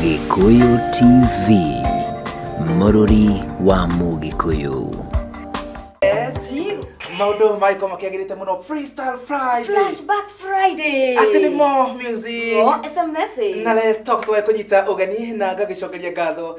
Gĩkũyũ TV, mũrũri wa Mũgĩkũyũ. maundu magiko makiagirite muno freestyle friday Flashback Friday. ati ni mo music What is a message? na let's talk twae kunyita ugeni na ngagicokeria ngatho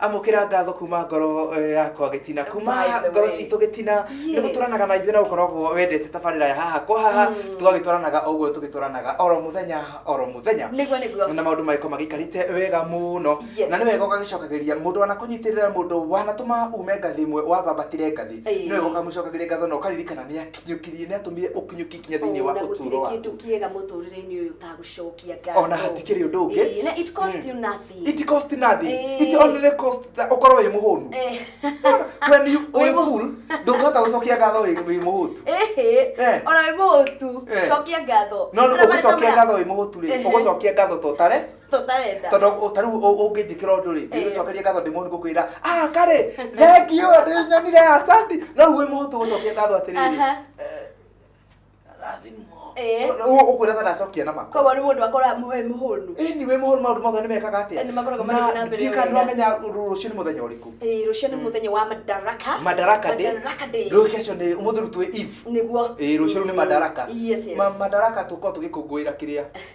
amũkĩra ngatho kuma ngoro eh, yakwa gĩtina kuma By the ngoro way. citũ gĩtina Yee. nĩ gũtũranaga na ithuĩ na gũkoragwo wendete tabarĩra ya haha kwa haha tũgagĩtwaranaga o ũguo tũgĩtwaranaga oro mũthenya oro mũthenya Nĩguo, nĩguo. na maũndũ magĩkorwo magĩikarĩte wega mũno Yes. na nĩ wega ũgagĩcokagĩria mũndũ wanakũnyitĩrĩra mũndũ wanatũma ume ngathĩ ĩmwe wabambatĩre ngathĩ Ĩĩ. nĩ wega ũkamũcokagĩria ngatho na ũkaririkana nĩ akinyũkirie nĩ atũmire ũkinyũki nginya thĩinĩ wa Ona gũtirĩ ũtũũro waku kĩndũ kĩega mũtũrĩre-inĩ ũyũ ũtagũcokia ngatho. Ona hatikĩrĩ ũndũ ũngĩ. Ĩĩ, na it cost you nothing. It cost nothing. Eh. It only cost that ukorwo wĩ mũhũnu. Eh. When you wĩ full, ndũngĩhota gũcokia ngatho wĩ wĩ mũhũtu. Eh. eh. Ona wĩ mũhũtu, eh. cokia ngatho. No no ũgũcokia ngatho wĩ mũhũtu rĩ, eh. ũgũcokia ngatho totare. Totarenda. Tondũ ũtaru ũngĩnjĩkĩra ũndũ rĩ, ndĩgũcokeria ngatho ndĩ mũhũnu ngũkwĩra, "Ah, karĩ, thank you, ndĩnyonire asante." No wĩ mũhũtu ũgũcokia ngatho atĩrĩrĩ. Eh. ukwira kana acokia na mako koguo ni mundu akora muhe muhunu ni we muhunu maundu mothe ni mekaga atia ni makoraga magithiĩ na mbere ndika ndu amenya rucio ni muthenya uriku eh rucio ni muthenya wa madaraka madaraka day madaraka day rucio cio ni umuthi rutwe eve niguo eh rucio ni madaraka yes yes madaraka tuko tugikungwira kiria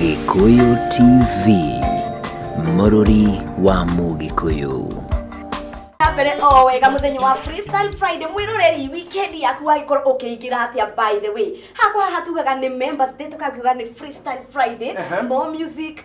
Gĩkũyũ TV, mũrũri wa Mũgĩkũyũ. na mbere o wega muthenya wa freestyle friday mwiroreri weekend yaku wagikorwo ukiingira atia by the way hakwa haha tugaga ni members day tukagiuga ni freestyle friday more music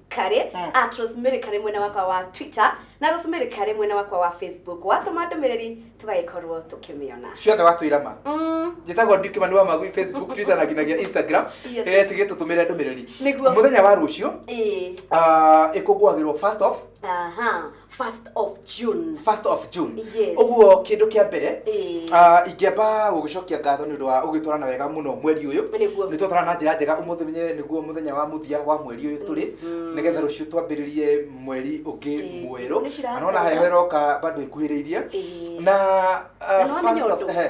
karĩ Mm. at rosemary karĩ mwena wakwa wa twitter na rosemary karĩ mwena wakwa wa facebook watũma ndũmĩrĩri tũgagĩkorwo tũkĩmĩona ciothe watwĩra ma Mm, njĩtagwo ndukimani wa magui facebook twitter na nginagia instagram Yes. Eh, tigĩ tũtũmĩre ndũmĩrĩri Nĩguo. mũthenya wa rũciũ ĩĩ, ah, ĩkũngũagĩrwo first off aha first of june first of june Yes. ũguo kĩndũ kĩa mbere Ĩĩ. ah, ingĩamba gũgĩcokia ngatho nĩ ũndũ wa ũgĩtwarana wega mũno mweri ũyũ Nĩguo. nĩ twatwarana na njĩra njega ũmũthĩ nĩ- nĩguo mũthenya wa mũthia wa mweri ũyũ tũrĩ Mhm. nĩgetha rũciũ twambĩrĩrie mweri ũngĩ Ĩĩ, mwerũ nĩ ciracera. na nona heho ĩroka bado ĩkuhĩrĩirie Ĩĩ. na ah, Na nĩ wamenya first of- ũndũ? ehe.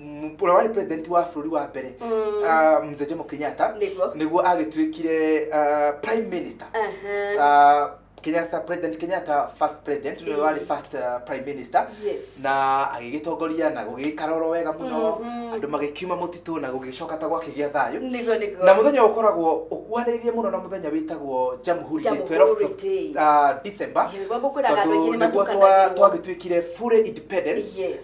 m- ũrĩa warĩ president wa bũrũri wa mbere Mm. ah, mzee jomo kenyatta Nĩguo. nĩguo agĩtuĩkire ah, prime minister Aha. Ah, kenyatta president kenyatta first president nĩwe warĩ first ah, prime minister Yes. na agĩgĩtongoria na gũgĩikara oro wega mũno Mhm. andũ magĩkiuma mũtitũ na gũgĩcoka ta gwakĩgĩa thayũ Nĩguo, nĩguo. na muthenya ukoragwo ukuhanĩrĩirie mũno na muthenya wĩtagwo jamhuri Day, Jamhuri 12th of, Day. uh, december Nĩguo gũkwĩraga andũ aingĩ tondũ nĩ nĩguo twa- matukanagĩrwo. twagĩtuĩkire fully independent Yes.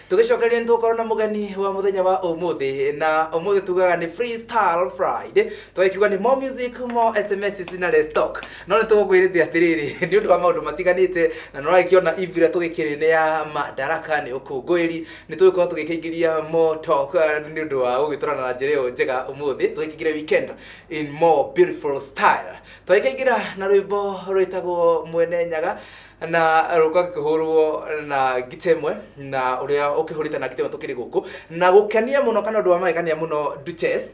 tũgĩcokereria nĩ tũgũkorwo na mũgeni wa mũthenya wa ũmũthĩ na ũmũthĩ tugaga nĩ freestyle friday tũgĩkiuga nĩ more music more sms na restock no nĩ tũgũkwĩrĩthia atĩrĩrĩ nĩ ũndũ wa maũndũ matiganĩte na nĩragĩkĩona ivira tũgĩkĩrĩ nĩ ya madaraka nĩ ũkũngũĩri nĩ tũgĩkorwo tũgĩkĩingĩria more talk eh, nĩ ũndũ wa gũgĩtũrana na njĩra ĩyo njega ũmũthĩ tũgĩkĩingĩre weekend in more beautiful style tũgĩkĩingĩra na rwĩmbo rwĩtagwo mwene nyaga na rũka kĩhũrwo na ngita ĩmwe na ũrĩa ũkĩhũrĩte na ngita ĩmwe tũkĩrĩ gũkũ na gũkenia mũno kana ũndũ wa magegania mũno Duchess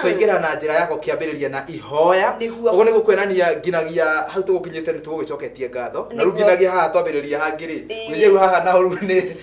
twaingĩra na njĩra yako kĩambĩrĩria na ihoya Nĩguo. ũguo nĩ gũkuonania nginagia hau tũgũkinyĩte nĩ tũgũgĩcoketie ngatho na rĩu Nĩguo. nginagia haha twambĩrĩria hangĩ-rĩ Ĩĩ. gwĩciria rĩu haha naho rĩu nĩ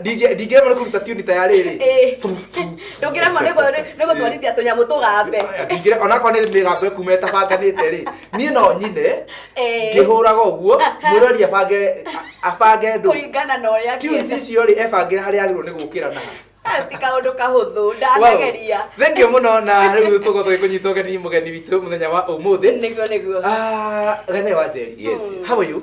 Ndingĩ- ndingĩrema nĩ kũruta tiuni ta ya rĩrĩ Ĩĩ. ndũngĩremwo nĩ gũ- nĩ- nĩ gũtwarithia tũnyamũ tũgambe ndingĩre onakorwo nĩ mĩgambo ĩkuma ĩtabanganĩte rĩ niĩ no nyine Ĩĩ. ngĩhũraga ũguo mwĩrori abange abange ndũ kũringana na ũrĩa tiuni angĩenda. icio rĩ ebangĩra harĩa agĩrĩirwo nĩ gũkĩra na Ah, ti kaũndũ kahũthũ ndanageria thengio mũno na rĩu tũgo tũgĩkũnyita ũgeni mũgeni witũ mũthenya wa ũmũthĩ nĩguo nĩguo Ah, gathe wa njeri Yes, yes. how are you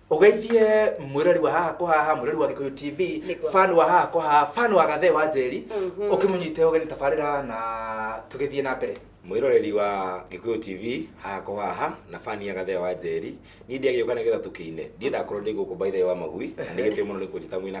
ũgeithie mwĩrori wa haha kwa haha mwĩrori wa gĩkũyũ tv Nĩguo. fan wa haha kwa haha fan wa gathe wa njeri Mhm. ũkĩmũnyite ũgeni tabarĩra na tũgĩthiĩ na mbere mwĩroreri wa gĩkũyũ tv haha kwa haha na fani ya gathea wa njeri niĩ ndiagĩũka nĩgetha tũkĩine ndiendaga korwo ndĩ gũkũ mbaithe wa magui na nĩ gĩtĩo mũno nĩ kũnjĩta mwĩna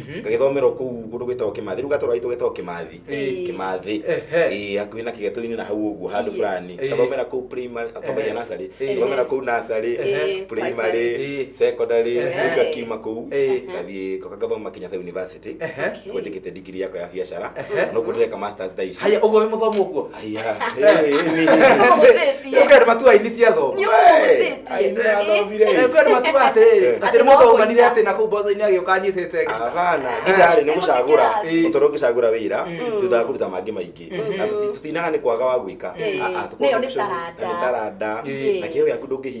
ngagĩthomerwo kũu kũndũ gwĩtagwo kĩmathi rĩu gatũra gaitũ getagwo kĩmathi Ĩĩ. kĩmathi Ehe. Ĩĩ, hakuhĩ na kĩgeto-inĩ na hau ũguo handũ Ĩĩ. fulani Ĩĩ. ngathomera kũu primary twambagia nasarĩ Ĩĩ. ngathomera kũu nasarĩ Ĩĩ. primary Ĩĩ. secondary Ĩĩ. rĩu ngakiuma kũu Ĩĩ. ngathiĩ ngoka ngathoma Kenyatta University Ehe. kuo njĩkĩte ndigiri yakwa ya biacara Ehe. nokuo ndĩreka masters thaa ici haya ũguo wĩ mũthomu ũguo Aya, eh, ni- Nĩũkũhũthĩtie. Ũkaĩ nĩ matua ainitie athomo. Nĩũkũhũthĩtie. Aine Eh, athomire. Eh, Ũkaĩ nĩ matua atĩrĩrĩ, Eh. atĩ nĩ mũndũ Atĩ waumanire atĩ na kũu mboco-inĩ agĩũka anyitĩte ngita. Havana, gitari nĩ gũcagũra Ĩĩ. mũtoro ũgĩcagũra wĩra thutha wa kũruta mangĩ maingĩ na tũti- tũtinaga nĩ kwaga wa gwĩka Ĩĩ. Ah, ah, tũkoragwo Nĩyo nĩ options, na nĩ taranda. taranda Ĩĩ. na kĩheo gĩaku ndũngĩhinga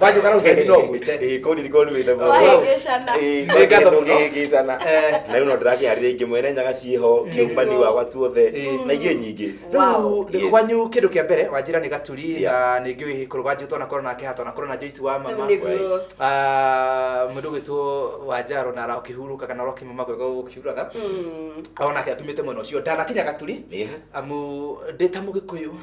Wanyu kana utheri no gwite. Ĩ kũu ndirikoo nĩmĩte mũno. Wahĩngĩcana. Ĩ, Nĩ ngatho mũno. tũkĩhĩngĩcana. Eh. Na rĩu no ndĩrakĩharĩria ingĩ mwene nyaga ciĩho kĩũmbani wakwa tuothe Ĩ. na ingĩ nyingĩ. Wow. Rĩu Yes. kwanyu kĩndũ kĩa mbere wanjĩra nĩ gaturi Yeah. na nĩ ngĩũĩ kũrũganjũ twanakorwo nake ha twanakorwo na Joyce wa mama Nĩguo. Ah, mũndũ gwitũ wanjaro na ũkĩhurũkaga na ũrokima magwega ũkiuraga Mm. onake atumĩte mwena ũcio ndanakinya gaturi Ĩ. amu ndĩ ta mũgĩkũyũ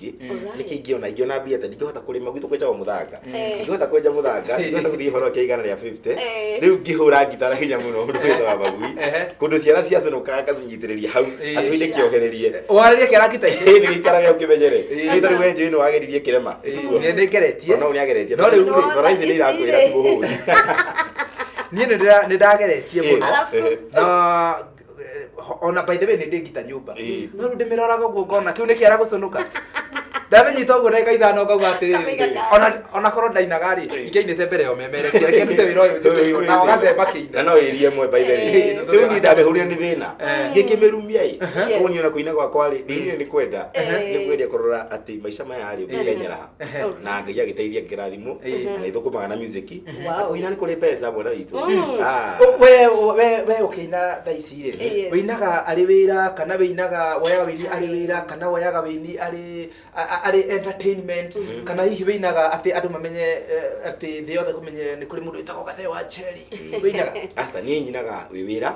ingĩ Alright. nĩkĩ ingĩona ingĩona mbia atĩ ndingĩhota kũrĩma gwitũ kwenjaga mũthanga Eh. ndingĩhota kwenja mũthanga ndingĩhota gũthiĩ horo kĩa igana rĩa 50 Eh. rĩu ngĩhũra ngita na hinya mũno mũndũ wĩtwa wa magui Ehe. kũndũ ciara ciacũnũka ngacinyitĩrĩria hau Eh. atũ inĩ kĩohererie warĩrĩa kĩara kita Ĩĩ, nĩ gĩikaraga ũkĩmenyere Eh. nĩ tarĩ wenjũ ĩno wageririe kĩrema Ĩtiguo. nĩ nĩngeretie Ona ũyũ nĩageretie No rĩu- Nona Nora ici nĩ irakwĩra ici-rĩ. ti mũhũri niĩ nĩ ndĩra- nĩ ndageretie Eh. mũno Alafu- Eh. na ona by the way nä ndä ngita nyå mba Ĩĩ. no rä u ndä mä roraga å guo ngona kä u nä kä ara gå conoka ndamenyita å guo ndagä ithano ngauga atä Kamaiga rä ndano. ona ona korwo ndainaga rä ingä ainä te mbere ya å memere kä reke ndute wä ra å yå njä na gathemba kä na ina no ĩrie ĩmwe by the way. Eh. rĩu niĩ ndamĩhũrire nĩ thĩna Eh. ngĩkĩmĩrumia ĩ Yes. ũguo niona kũina gwakwa rĩ ndĩinire nĩ kwenda Eh. nĩ kwendia kũrora atĩ maica maya rĩ ũngĩkenyera ha na ngai agĩteithia ngĩrathimwo na nĩ thũkũmaga na music na Wow. kũina nĩ kũrĩ mbeca bwana witũ Ah. Ũ- we we we ũkĩina thaa ici rĩ Yes. wĩinaga arĩ wĩra kana wĩinaga woyaga wĩini arĩ wĩra kana woyaga wĩini arĩ a- a- arĩ entertainment kana hihi wĩinaga atĩ andũ mamenye eh, atĩ thĩ yothe kũmenye nĩ kũrĩ mũndũ wĩtagwo gathe wa cheri wĩinaga aca niĩ nyinaga wĩ wĩra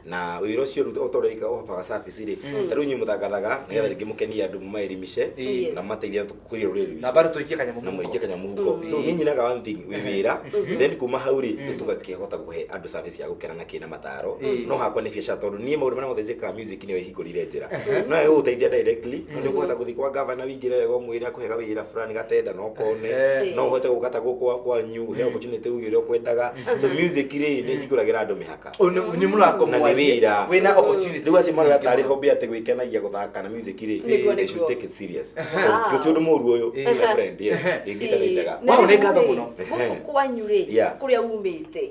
na wĩra ũcio rĩu o ta ũrĩa wĩkaga ũhobaga cabi rĩ tarĩu inyuĩ mũthangathaga nĩgetha rĩngĩ mũkenie andũ mũmaelimishe Yes. na mũmateithia kũria rũrĩrĩ rwitũ na bado tuikie kanyamũ na mũingĩ kanya mũhuko so niĩ nyinaga one thing wĩ wĩra then kuma hau rĩ nĩ tũgakĩhota kũhe andũ service ya gũkena na kĩna mataro no hakwa nĩ biacara tondũ niĩ maũndũ marĩa mothe njĩkaga music nĩyo ĩhingũrire njĩra no ĩyo gũteithia directly no nĩ ũkũhota gũthiĩ kwa gavana wingĩre wega ũmwĩre akũhega wĩra fulani gatenda no kone Eh. no ũhote gũkata gũkwa kwanyu he opportunity uge ũrĩa ũkwendaga so music rĩ nĩ ĩhingũragĩra andũ mĩhaka nä må rango Na nĩ wĩra. wä na opportunity. rä u acio marä tarä hombe atä gwä kenagia gå thaka na music rä Nĩguo, they should nĩguo. take it serious Ah. gå tä å ndå må ru å yå Eh. my friend yes ä ngä ta nä njega Na Wow, rĩu nĩ ngatho rĩ, mũno. gũkũ kwanyu rĩ Yeah. kũrĩa umĩte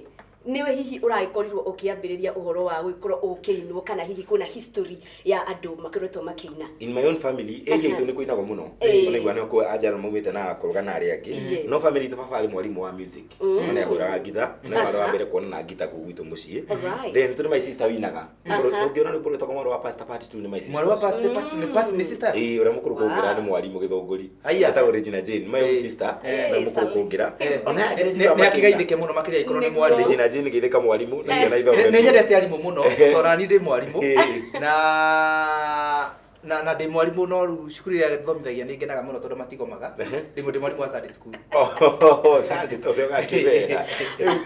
nĩwe hihi ũragĩkorirwo ũkĩambĩrĩria ũhoro wa gũgĩkorwo ũkĩinwo kana hihi kwĩna history ya andũ makoretwo makĩina. In my own family, area itũ nĩ kũinagwo mũno. Ĩĩ. Ona iguana kwa anjara maumĩte na kũrũga na arĩa angĩ. Yes. No family itũ baba arĩ mwarimũ wa music. Na nĩ ahũraga ngita, na nĩ wa mbere kuona na ngita kũu gwitũ mũciĩ. Alright. Then tũrĩ my sister winaga. Ũngĩona rwĩmbo rwĩtagwo mwarĩ wa pastor part two nĩ my sister. Mwarĩ wa ũcio. pastor part nĩ part nĩ sister. Ĩĩ, ũrĩa mũkũrũ kũngĩra nĩ mwarimũ gĩthũngũri. Haiya. etagwo Regina Jane my own Eh. sister Eh, na Sami. mũkũngũngira Eh. ona yake nĩ njiguaga makĩina. nĩakĩgaithĩke mũno makĩria ikorwo nĩ Nĩguo. mwarimũ Regina Jane gĩthĩka mwarimũ na ciana ithomo nĩ nyendete arimũ mũno tondũ nĩ ndĩ mwarimũ Eh. na na na ndĩ mwarimũ no rĩu cukuru ĩrĩa thomithagia nĩ ngenaga mũno tondũ matigomaga rĩmwe ndĩ mwarimũ wa Sunday school Oh, Sunday, tondũ ũgakĩmera. Rĩu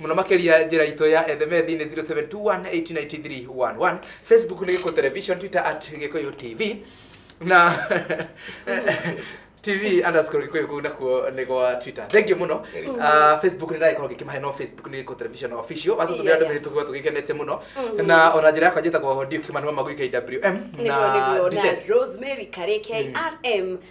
muno makeria njira itu ya ethemethi ni 0721893111 facebook ni giko television twitter at gikoyo tv na tv underscore gikoyo kuu nakuo ni gwa twitter thank you muno Very good. uh, facebook ni ndagĩkorwo ngĩkĩmahe no facebook nĩ gĩko television official watatũmĩra Yeah, ndũmĩrĩri yeah. tũkorwo tũgĩkenete mũno Mm. na ona njĩra yakwa njĩtagwo ndio kĩmanua magũi kwm nĩguo nĩguo na Rose Mary Karĩ KRM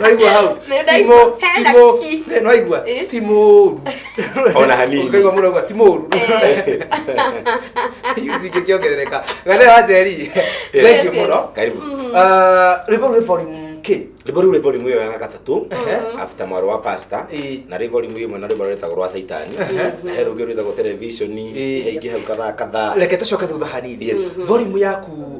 Naigua hau. Nĩ ndaigua. Timo- Hena timo- ki. Eh, naigua Eh. ti mũru Ona hanini. Ũkaigua mũndũ auga ti mũru cingĩ kĩongerereka gathe wa njeri thank you Yes, mũno Karibu. Ah, rwĩmbo rwĩ volume kĩ rĩmbo rĩu rĩ volume ĩyo ya gatatũ after mwarĩ wa pasta Ĩĩ. na rĩ volume ĩmwe na rĩmbo rĩtagwo rwa caitani na he rũngĩ rwĩtagwo televisioni Ĩĩ. he ingĩ hau kadhaa kadhaa reke tũcoke thutha hanini Yes. volume yaku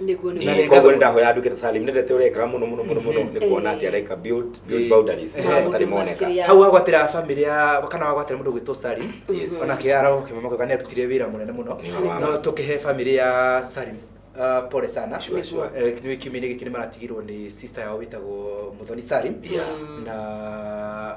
niguo Na nĩ koguo nĩ ndahoya anduke ta salim nendete ũrekaga mũno mũno mũno mũno nĩ kuona atĩ areka build build boundaries marĩa matarĩ moneka hau wagwatĩra famĩlĩ ya kana wagwatĩra mũndũ gwĩtwo sari onake arogokĩma makoga nĩ arutire wĩra mũnene mũno Nĩwe. no tũkĩhe famĩlĩ ya sari Uh, pole sana Sure, sure. Eh, nĩ kiumia-inĩ gĩkĩ nĩ maratigirwo nĩ sister yao wĩtagwo mũthoni sari Yeah. na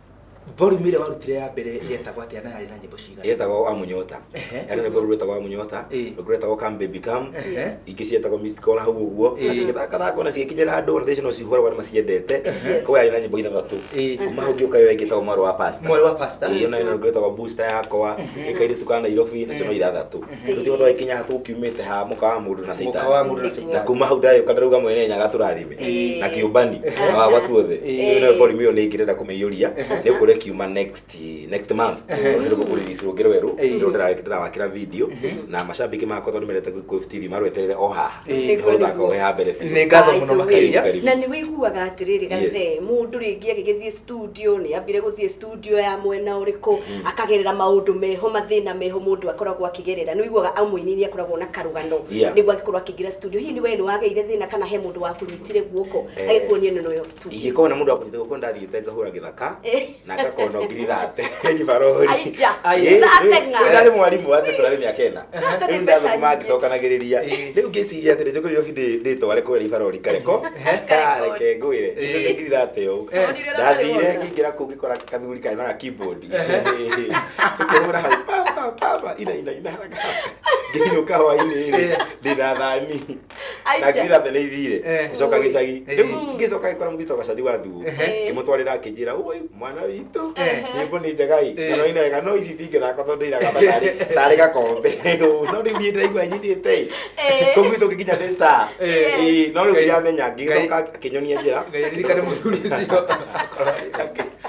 Volume ĩrĩa warutire ya mbere yetagwo atĩa na yarĩ na nyĩmbo cigana? yetagwo amunyota Ehe. yarĩ na rwĩmbo rũu rwetagwo amunyota Ĩĩ. rũngĩ rwetagwo come baby come Ehe. ingĩ cietagwo missed call hau ũguo na Ĩĩ. cigĩthakathaka ona cigĩkinyĩra andũ na thaici no cihũragwo nĩ maciendete koguo yarĩ na nyĩmbo ithathatũ Ĩĩ. kuma hau ngĩũka yo ĩngĩ ĩtagwo mwarĩ wa pastor Mwarĩ wa pastor. Ĩĩ, yo nayo ĩna rwĩmbo rwetagwo booster yakwa gĩkairĩtu ka nairobi nacio no ithathatũ tutigwo twagĩkinya haha tũkiumĩte ha mũka wa mũndũ na Mũka wa mũndũ na caitani na kuma hau ndagĩũka ndarauga mwene nyaga tũrathime Ĩĩ. na kĩũmbani na wagwa tuothe Ĩĩ. no borimu ĩyo nĩ ngĩrenda kũmĩiyũria nĩ kũrĩa kiuma next next month nĩ gũkũriricirwo ngĩrwo werũ Ĩĩ. rĩu ndĩrarĩ- ndĩrawakĩra video na macambĩki makwa tondũ nĩmendete Gĩkũyũ TV marweterere o haha Ĩĩ. nĩ gũthaka ohe ha mbere biũ. Nĩ ngatho mũno Karibu, makĩria karibu. na nĩ wĩiguaga atĩrĩrĩ Yes. gathe mũndũ rĩngĩ agĩgĩthiĩ studio nä ambire gå thiä studio ya mwena å rä kå akagerera maå ndå meho mathä na meho må ndå akoragwo akä gerera nä wiguaga amå ini nä akoragwo na karå gano Yeah. nä guo angä korwo akä ingä ra studio hihi nä we nä wageire thä na kana he må ndå wakå nyitire guoko Eh. agä kuonia nä noyo studio ingĩkorwo na mũndũ akũnyita guoko ndathiĩte ngahũra gĩthaka Eh. na ngakona ngiri thate ngibarori Aija, Aija. Ndateng'a. ndarĩ mwarimũ wa sekondarĩ mĩaka ĩna rĩu ndagũtuma angĩcokanagĩrĩria rĩu ngĩciria atĩrĩ njũkĩrĩre bi ndĩtware kwĩra ibarori kareko kareke ngwĩre ngirira atĩ ũũ ndathire ngĩingĩra kũu ngĩkora kathuri karĩ na keyboard ngĩkĩhũra hau papa papa ina ina ina haraka haraka ngĩinũka hwainĩ rĩ ndĩna thani na ngirira thene ithire Eh. gĩcoka gĩcagi Eh. rĩu ngĩcoka gĩkora mũthito gacathi wa thuo Ehe. ngĩmũtwarĩra akĩnjĩra ũi mwana witũ Eh. nyĩmbo nĩ njega i Eh. no ina wega no ici tingĩthaka tondũ iraga ta tarĩ tarĩ gakombe Ũũ, no rĩu niĩ ndaigua nyinĩte i kũu gwitũ ngĩkinya nĩ star Eh. Ĩĩ, no rĩu Ngai- ndiramenya ngĩcoka akĩnyonia njĩra Ngai aririkane mũthuri ũcio.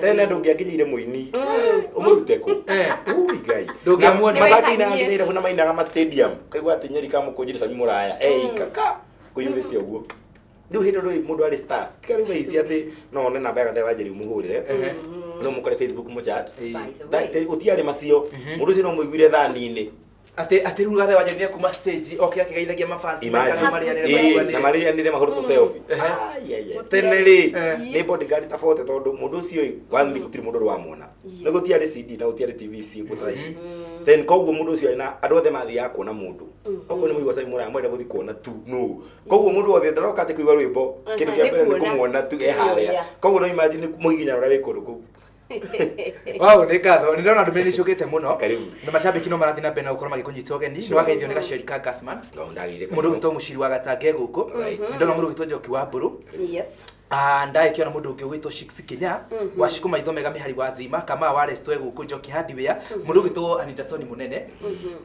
tene na ndũngĩanginyire mũini ũmũrute kũ Eh. Ui, ngai Ndũngĩamuona. Na mathako ina Nĩwĩtanie. thĩrĩra na mainaga ma stadium kaigua atĩ nyeri kamũkũnjire sami mũraya ei kaka kũiyũrĩte ũguo rĩu hĩndĩ rĩu mũndũ arĩ star tiga rĩu aici atĩ no one namba ya gathe wa njeri mũhũrĩre Ehe. no mũkore facebook mũchat Eh. By the way. ũtiarĩ macio mũndũ ũcio no mũiguire thani-inĩ Atĩ atĩ rĩu gathe wanjũ nĩ kuma stage oke akĩgeithagia mafans Imagine. maikara marĩanĩre Ĩĩ, na maiguanĩre. marĩanĩre mahũrĩtwo selfie. Ehe. Ai, ai, ai. tene rĩ Eh. nĩ bodyguard tabote tondũ mũndũ ũcio ĩ one nĩ gũtirĩ mũndũ ũrĩ wamwona Yes. nĩ gũtiarĩ CD na gũtiarĩ TV ici ũguo ta ici then koguo mũndũ ũcio arĩ na andũ othe mathiaga kuona mũndũ okorwo nĩ mũigua cai mũraya mwenda gũthiĩ kuona tu no koguo mũndũ wothe ndaroka atĩ kũigua rwĩmbo kĩndũ kĩa Nĩ mbere nĩ kuona. kũmuona tu e harĩa Kũmuona. koguo no imagine mũgiginyana ũrĩa wĩ kũndũ kũu Wow, nĩ ngatho. Nĩ ndona ndũmĩrĩri ciũkĩte mũno. Karibu. Na macambĩki no marathiĩ na mbere na gũkorwo magĩkũnyita ũgeni. Nĩ wageithio nĩ gaceri ka Gasman. No ndagĩire Mũndũ ũgĩtwo mũciri wa gatange gũkũ. Right. Nĩ ndona mũndũ ũgĩtwo njoki wa mbũrũ. Yes. Ah, ndagĩkĩona mũndũ ũngĩ ũgwĩtwo Shiks Kinya wa Shiko Maitho Mega Mĩhari wa Zima kama wa Restwe gũkũ Njoki Hardware mũndũ ũgwĩtwo Anita Soni Mũnene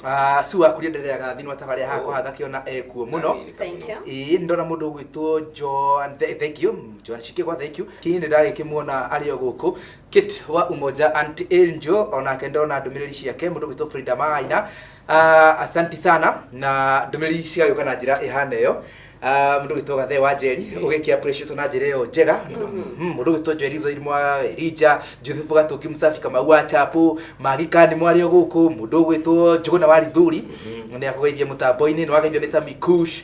Ah, su wa kuria nderera gathini wa tabarĩa haha kũhanga kĩona ekuo mũno Thank you. ĩĩ nĩ ndona mũndũ ũgwĩtwo Joan Thengio Joan Shikigwa, thank you. Hihi nĩ ndagĩkĩmuona arĩ o gũkũ Kit wa Umoja Aunt Angel onake ndona ndũmĩrĩri ciake mũndũ gwitũ Frida Maina. Uh, asanti sana na ndũmĩrĩri cigagĩũka na njĩra ĩhana ĩyo Ah, mũndũ gwitũ gathe wa njeri ũgĩkĩa precious na njĩra ĩyo njega Mhm, mũndũ gwitũ njeri zoiri mwa rija juthubu gatũki musafi kamau wa chapu magikani mwarĩ o gũkũ mũndũ gwitũ njũgũna wa rithuri nĩ akũgeithia mũtambo-inĩ nĩ wageithio nĩ sami kush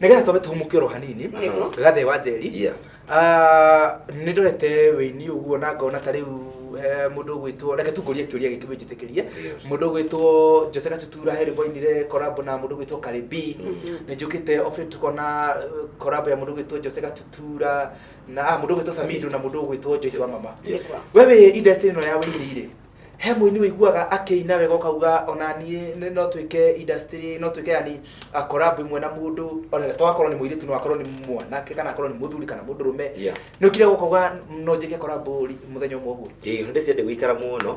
nigetha twambe tũhumũke oro hanini Nĩguo. gathe wa njeri Yeah. Ah, nĩ ndorete wĩini ũguo na ngona ta rĩu he mũndũ ũgwĩtwo reke tungũrie kĩũria gĩkĩ wĩnjĩtĩkĩrie Yes. mũndũ ũgwĩtwo njose gatutura he rĩmbo inire korabo na mũndũ ũgwĩtwo karibi nĩ njũkĩte office tukona eh, korabo ya mũndũ ũgwĩtwo njose gatutura na ah, mũndũ ũgwĩtwo samido na mũndũ ũgwĩtwo joyce wa mama Nĩguo. wewe industry ĩno ya wĩini rĩ he mũini wĩiguaga akĩina wega ũkauga ona niĩ nĩ- no twĩke industry no twĩke yani a collab imwe na mũndũ ona to akorwo nĩ mũirĩtu no akorwo nĩ mwanake kana akorwo nĩ mũthuri kana mũndũrũme Yeah. nĩ ũkire gũkauga no njĩke collab ri- mũthenya ũmwe ũguo ĩĩ hĩndĩ ciende gũikara mũno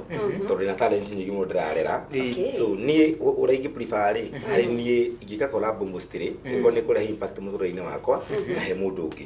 tondũ ndĩna talent nyingĩ mũno ndĩrarera Okay. so niĩ ũ- ũrĩa ingĩpuriba rĩ harĩ niĩ ingĩka collab mostly ĩkorwo nĩ kũrehe impact mũtũrĩre-inĩ wakwa na he mũndũ ũngĩ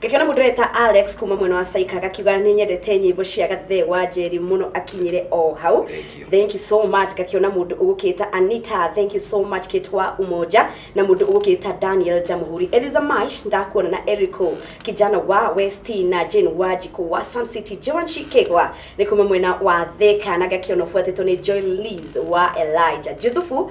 ngakĩona mũndũ reta alex kuma mwena wa saika agakiuga nĩ nyendete nyĩmbo cia gathe wa njeri mũno akinyire o hau Thank you. thank you so much ngakĩona mũndũ ũgũkĩta anita thank you so much kitwa umoja na mũndũ ũgũkĩta daniel jamuhuri eliza mash ndakuona na erico kijana wa west na jane wa jiko wa sun city joan shikegwa nĩ kuma mwena wa theka na ngakĩona ũbuatĩtwo nĩ joy liz wa elija juthufu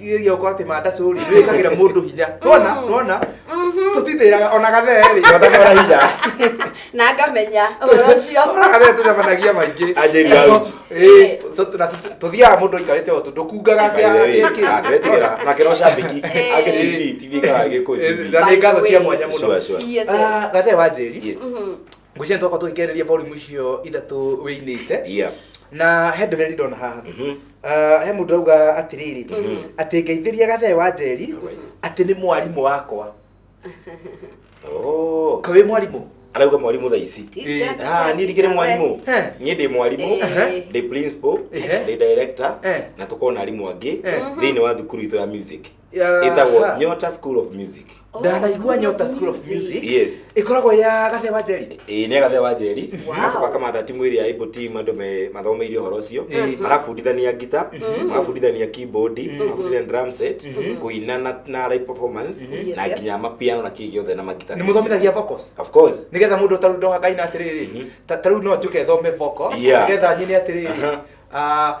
iria uko ati manda curi wikagira mundu hinya wona wona tutitiraga ona gatheri gathagora hinya na ngamenya uhoro ucio ona gatheri tucemanagia maingi Anjĩri wa uji. Eh, so tuna- tu- tuthiaga mundu aikarite o tundu kungaga atia Ndĩretigĩra. nake no cambĩki angĩ tv tv kana gĩkũnjĩri na nĩ ngatho cia mwanya mũno Sure, sure. Yes, yes. Ah, gathe wa njeri Yes. ngwĩciria nĩtwakorwo tũgĩkĩarĩria volume icio ithatũ wĩinĩte yeah na he ndũmĩrĩri ndona haha Ah, he mũndũ auga atĩrĩrĩ atĩ ngeithĩria gathee wa njeri atĩ nĩ mwarimũ wakwa oh ka wĩ mwarimũ arauga mwarimũ thaa ici Teacher, Eh, teacher, Ah, niĩ ndikĩrĩ teacher, mwarimũ we. Eh. niĩ ndĩ mwarimũ Eh. ndĩ principal Eh. ndĩ director Eh. na tũkorwo na arimũ angĩ Eh. thĩinĩ wa thukuru itũ ya music Yeah. ĩtagwo nyota school of music Oh, ndanaigua nyota school of music yes ĩkoragwo ya gathe wa njeri ĩĩ nĩ agathe wa njeri Wow. agacoka akamatha timu ĩrĩa ĩbo team andũ me- mathomeirie ũhoro ũcio marabundithania ngita marabundithania keyboard marabundithania drum set kũina na- na live performance Yes, na yes. nginya mapiano na kĩĩ gĩothe na magita nĩ mũthomithagia vocals of course nigetha mundu taru ndoha kaina atiriri taru no njuke thome voko Yeah. nigetha nyine atiriri Aha. ah,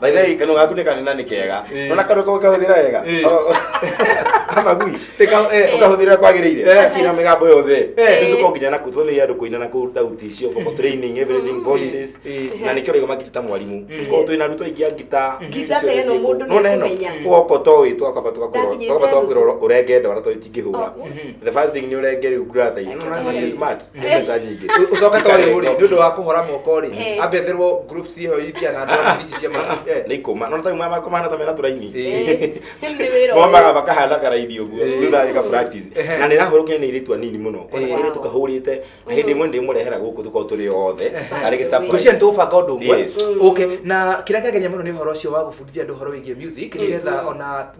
By the way, kanua gaku nĩ kanene na nĩ kega Eh. nona kanua kau kahũthĩra wega Eh. amagui Tika- eh, ũkahũthĩra kwagĩrĩire Eh. akira mĩgambo yothe Eh. nĩtũko nginya naku tũnĩ andũ kũina na kũruta uti icio vocal training everything voices Eh. na nĩkĩo rĩgo makita ta mwarimũ korwo twĩna arutwo aingĩ a ngita Ngita ta ĩno mũndũ nĩekũmenya. ũgoka ũtoĩ twakamba Ndakinyĩte tũgakwĩrora nuthu. ũrenge ndwara tondũ itingĩhũra Oh. the first thing nĩ ũrenge rĩu ngratha ici Ĩno na nĩ smart mbeca nyingĩ ucoke to uyu ri ni undu wa kuhora moko ri Eh. ambe therwo group ciho itia na ndoa ici cia mwana eh nä ikå ma no ta mama kå mahana ta mena tå raini nĩ wĩra ũyũ. momaga makahanda karaini å guo Eh. thutha gä ka practice. Ehe. na nä rahå rå ke nä irä tu anini må no Eh. kona rä tå kahå rä te na hä ndä ä mwe ndä må rehera gå kå tå korwo tå rä othe arä gä surprise. ngwĩciria nĩ tũgũbanga ũndũ ũmwe Yes. okay na kĩrĩa kĩagenia mũno nĩ ũhoro ũcio wa gũbundithia andũ ũhoro wĩgiĩ music nĩgetha ona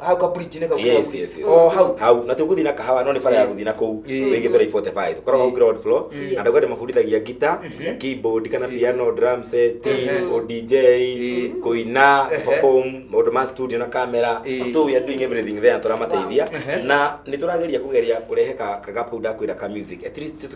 hau ka bridge nĩ kau yes yes yes oh hau hau na tũgũthiĩ na kahawa no nĩ bara ya gũthiĩ na kũu wĩgĩ mbere 45 tũkoragwo hau ground floor Yes. andũ gade mabundithagia gita keyboard kana piano drum set o dj kũina perform maũndũ ma studio na camera Eh. so we are doing everything there tũramateithia na nĩ tũrageria kũgeria kũrehe ka kagapau ndakwĩra ka music at least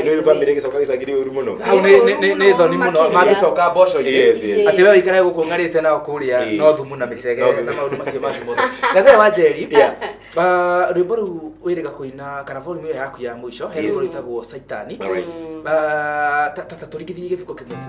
Ino yu family ĩgĩcoka gĩcangiri ũru mũno. hau nĩ- nĩ- nĩ- nĩ thoni mũno Makĩria. mangĩcoka mboco Yes, yes. atĩ we wĩikare gũkũ ng'arĩte nao kũrĩa Ĩĩ. no thumu na No mĩcege thumu. na maũndũ macio mangĩ mothe gathe wa njeri Yeah. ah, rwĩmbo rũu wĩrĩga kũina kana volume ĩyo yaku ya mũico he Yes. rwĩmbo rwĩtagwo caitani Alright. Ah, ta- ta- ta tũringithie gĩbuko kĩmwe tu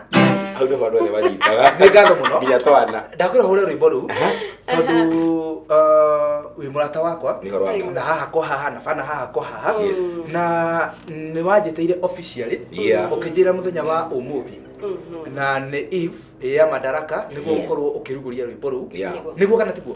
hau nĩho andũ othe manyitaga nĩ ngano mũno nginya twana ndakwĩra hũre rwĩmbo rũu tondũ uh, wĩ mũrata wakwa nĩ horo wata na haha kwa haha na bana haha kwa haha Yes. na nĩ wanjĩtĩire officially Yeah. ũkĩnjĩra mũthenya wa ũmũthĩ na nĩ eve ya madaraka nĩguo Yeah. ũkorwo ũkĩrugũria rwĩmbo rũu Yeah. nĩguo kana tiguo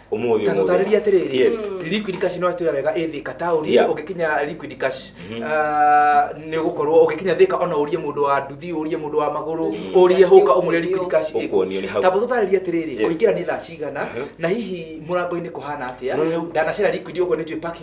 Ũmũthĩ, ta ũmũthĩ. tũtarĩrie atĩrĩrĩ Yes. liquid cash no atwĩra wega ĩ thika taũni Yeah. ũngĩkinya liquid cash ah, nĩ ũgũkorwo ũngĩkinya thika ona ũrie mũndũ wa nduthi ũrie mũndũ wa magũrũ ũrie hũka ũmũrie liquid cash ĩkũ. Ũkuonio nĩ hau. tamba tũtarĩrie atĩrĩrĩ Yes. kũingĩra nĩ thaa cigana na hihi mũrango-inĩ kũhana atĩa No, no. ndanacera liquid ũguo nĩ njũĩ parking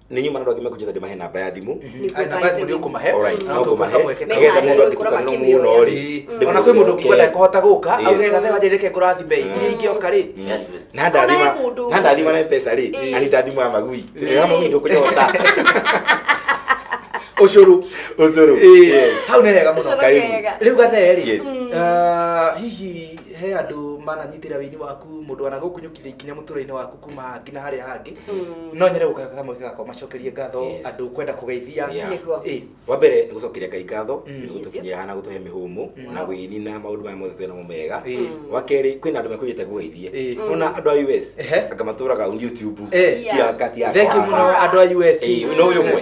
nä nyuma andå angä mekunjä ta ndä mahe namba ya thimå Ai, namba yaku nĩ ũkũmahe, Alright, na no tũkũhe ngũmahe. kamweke Nĩ getha mũndũ handũ ũkoragwo angĩtukana mũno akĩmĩoya. rĩ Ĩĩ. ona kwä må ndå ngigua ndakåhota gå ka Yes. augä gathe wanjä rä ke ngå rathime iria ingä oka rä na ndathima Onaye mũndũ. na ndathima na mpesa rä Ĩĩ. ani ndathima ya magui Ĩĩ. ya magui ndũkũnyota å cårå ũcũrũ Yes. hau nä hega må no Ũcũrũ Karibu. kega. rä u gathe rä Yes. hihi he andå mananyitä ra wä ini waku må ndå anagå kunyå kithä ikinya må tå rä-inä waku kuma nginya harĩa hangĩ no nyende gũka kamwe gakwa macokerie ngatho Yes. andũ kwenda kũgeithia Yeah. Nĩguo. Ĩ, wa mbere nĩ gũcokeria ngai ngatho Mm. nĩ gũtũkinyia haha na gũtũhe mĩhũmũ Mm. na gwĩnina maũndũ maya mothe twĩnamo mega ĩ, wa kerĩ kwĩna andũ makwĩnyĩte gũgeithie ĩ. ona andũ a us Ehe. anga matũraga youtube Eh. Yeah. tiga ngati ya Thank you mũno andũ a US. Eh, no ũyũ ũmwe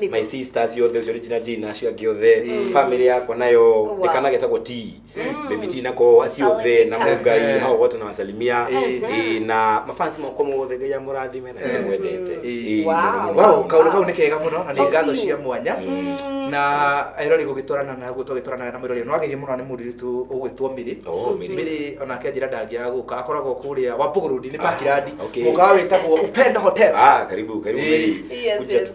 Nĩguo. my sister ciothe ũcio regina jina acio angĩ othe family yakwa nayo Wow. ndikana getagwo t baby t nako aciothe na Aleka. mungai hao wote na wasalimia Eh, na mafansi makwa mothe ngai amũrathime na nĩ mwendete Eh. Eh, Wow. mũno, mũno. wow kaundu kau nä kega må no na nä ngatho cia mwanya na erori gå gä twarana na guo twagä twaranaga na må rori no ageithie må no nä må rirutå å gwä two mä rä Oh, Mary. mä rä onake njä ra ndangäaga gå ka akoragwo kå rä a wapå gå rå ndi nä pakirandi okay. må kawa wä tagwo upenda hotel Ah, karibu karibu Eh. Mary. Yes, Kuja yes. tu.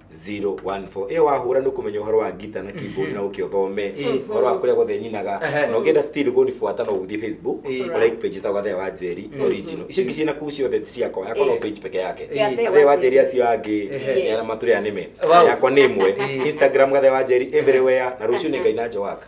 014 ĩyo wahũra nĩ kũmenya ũhoro wa ngita na keyboard na ũkĩ ũthome Eh. ũhoro wa kũrĩa gothe nyinaga Ehe. na ũngĩenda still kũnibuata no ũthiĩ facebook Eh. ũrĩa page ta gathee wa njeri original icio ingĩ ciĩna kuu ciothe ti ciakwa yakwa no Eh. page peke yake Eh. Gathee gathee wa njeri acio angĩ Ehe. nĩ arĩa matũrĩa nĩme Wow. yakwa nĩ ĩmwe Eh. instagram gathee wa njeri everywhere na rũciũ nĩ ngai na njowaka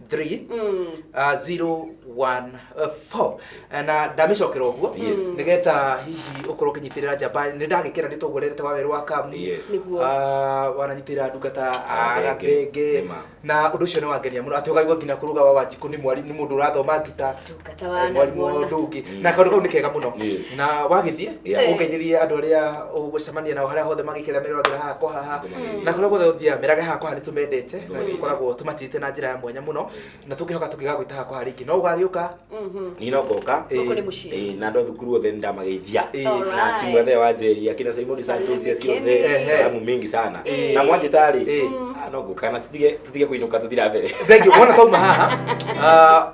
3 mm. uh, 0 1 4 na ndamicokera uguo mm. nigeta hihi ukorwo kinyitirira njamba ni ndagikira ni tugurerete wa weru wa kamu yes. uh, wananyitirira ndungata agathenge na undu ucio ni wangenia muno ati ugaigua nginya kuruga wa wanjiku ni mwari ni mundu urathoma ngita Kata wa mwarimũ wa anaguona. ũndũ ũngĩ na kaũndũ kau nĩ kega mũno Yes. na wagĩthiĩ Yeah. ũngeithĩrie andũ arĩa ũgũcemania nao harĩa hothe magĩkĩra meroragĩra haha kwa haha na kũrĩa guothe ũthiaga merage haha kwa haha nĩ tũmendete na nĩ tũkoragwo tũmatĩte na njĩra ya mwanya mũno na tũngĩhoka tũngĩgagwĩta haha kwa haha rĩngĩ no ũgagĩũka niĩ no ngoka Gũkũ nĩ mũciĩ. Ĩĩ, na andũ a thukuru othe nĩndamageithia Ĩĩ. na Alright. timu yothe ya wanjeri akina simoni santos cia ciothe Ehe. salamu mingi sana Ĩĩ. na mwanjĩta rĩ Ĩĩ. ah, no ngoka na tũtige tũtige kũinũka tũthira mbere Thank you. Wona tauma haha, ah,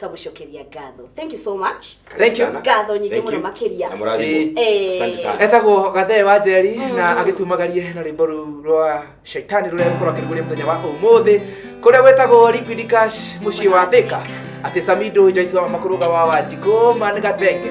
tũmũcokeria ngatho thank you so much Thank you. ngatho nyingĩ Thank mũno you. makĩria Na mũrathimwo. Eh. Asante sana. etagwo gathee wa njeri na agĩtumagarie na rwĩmbo rũu rwa shaitani rũrĩa gũkorwo akĩrugũria mũthenya wa ũmũthĩ kũrĩa gwĩtagwo liquid cash mũciĩ wa thika atĩ samido joyce wa makũrũga wa wanjikũ man gathenge